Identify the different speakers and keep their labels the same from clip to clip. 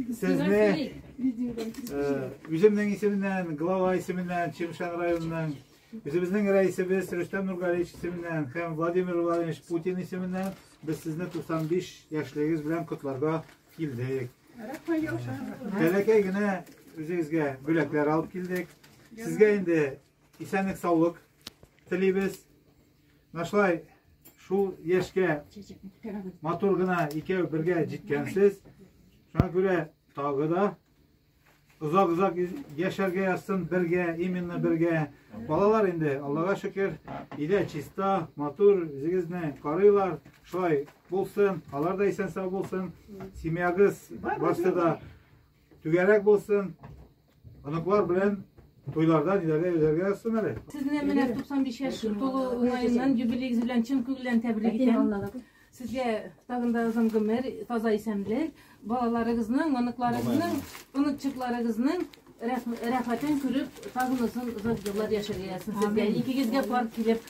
Speaker 1: Сезне үземнең исеменнән, глава исеменнән, Чимшан районының Үзебезнең рәисебез Рөстәм Нургалиевич исеменнән һәм Владимир Владимирович Путин исеменнән без сезне 95 яшьлегегез белән котларга килдек. Бәләкәй генә үзегезгә бүләкләр алып килдек. Сезгә инде исәнлек-саулык телибез. Нашлай шул яшкә матур гына икәү бергә җиткәнсез. Шуңа күрә тагы да озак-озак яшәргә язсын бергә, именно бергә. Балалар инде, Аллага шөкер, илә чиста, матур, үзегезне карыйлар. Шулай булсын, алар да исән-сау булсын. Семьягыз барсы да түгәрәк булсын. Оныклар белән туйларда ниләрдә йөзәргә язсын әле. Сезне менә 95 яшь тулу уңаеннан юбилеегез белән чын күңелдән тәбрик итәм. Сезгә тагын да озын гомер, таза исәнлек, балаларыгызның, оныкларыгызның, оныкчыкларыгызның рәхмәтен күреп, тагын озын озак еллар яшәргә язсын сезгә. Икегезгә пар килеп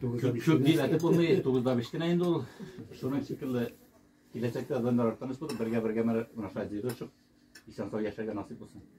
Speaker 1: Чүп дизәтеп булмый, тугызда бештенә инде ул. Шуның шикелле киләчәктә адәмнәр арттан үсеп, бергә-бергә менә шулай җыелышып, исән-сау яшәргә насыйп булсын.